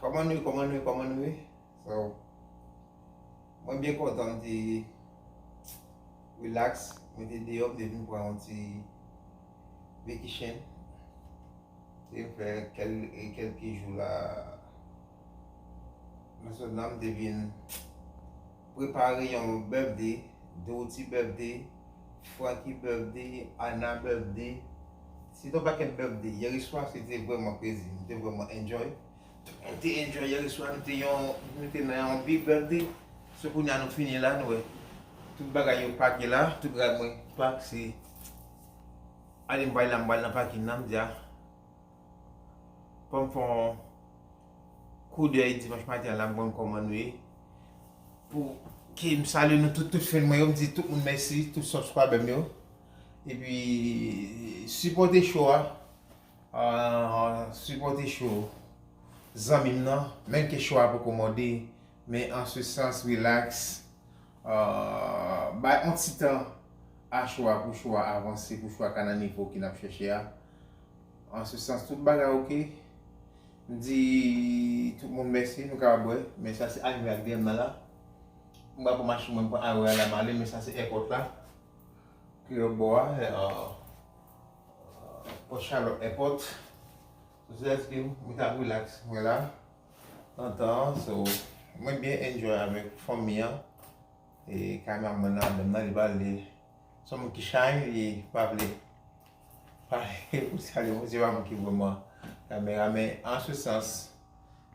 Kòman nou ye, kòman nou ye, kòman nou ye? So, mwen byen kontan m te relax, mwen te deyò, m te vin pran yon ti vacation. M te fè kèl, kèlke jou la nan zòn nan, m te vin. Prepare yon birthday, Doty birthday, Franky birthday, Anna birthday, se te yon pakèt birthday. Yèreswa se te vrèman krezi, nou te vrèman enjoy. Tout moun te enjoy yèreswa, nou te yon, nou te nan yon big birthday. So kounye a nou fini la, nou wè tout bagay yo pake la, tout bagay mwen pak se ale m bay la, m bal nan pakin nan, m di a. Fò m fè yon koudèy dimanch maten an la m konn kòman nou ye pou ke m salye nou tout, tout fen mwen yo m di tout moun mèsi tout subscriber m yo epi sipòte show a sipòte show zanmi m nan menm ke show a poko mòde men an se sans relax bay yon ti tan a show a pou show a avanse pou show a ka nan nivo ke n ap chèche a. An se sans tout bagay ok. M di tout moun mèsi nou ka wè men sa se anivè ak dèm nan la. M pral pran machin mwen m pran Aurora la m ale men sa se èpòt la ki lòt bò a Port Charlotte èpòt. Sou se lèske m mwen tap relax mwen la antan an so mwen byen enjoy avèk fanmi an e cameraman nan dèm nan li pale se yon moun ki shy li pa vle. Pale pou sali moun se pa moun ki vreman kamera men an se sans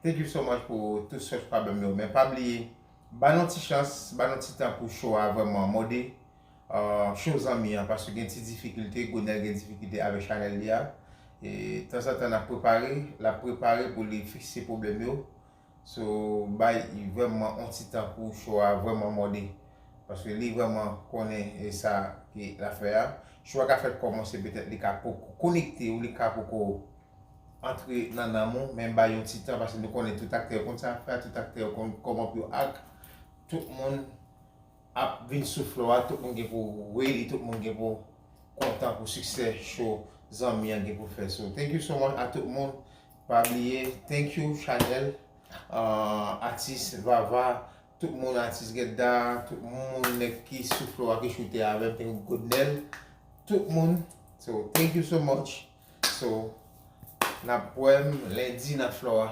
thank you so much pou tout sòs pabèm yo men pa bliye ba nou ti chans ba nou ti tan pou show a vreman mòde show zanmi an paske gen ti difikilte Gonel gen difikilte avèk chanèl li a tanzantan nap prepare lap prepare pou li fikse pwoblèm yo So bay yvem man on ti tan pou cho a vreman mode paske li vreman konnen sa ke lap fè a cho a ka fèk komanse petèt li ka poko konekte ou li ka poko antre nan nanm ou men bay yon ti tan paske nou konnen tout aktè yo konn sa yap fè a tout aktè yo konn koman pou yo act tout moun ap vin sou floor a tout moun gen pou ready tout moun gen pou kontan pou succès show zanmi an gen pou fè so thank you so much a tout moun pa bliye thank you chanel atis vava tout moun atis gedda tout moun nèg ki sou floor a ki choute avèm thank you godnel tout moun so thank you so much so nap wèm lendi nan floor a.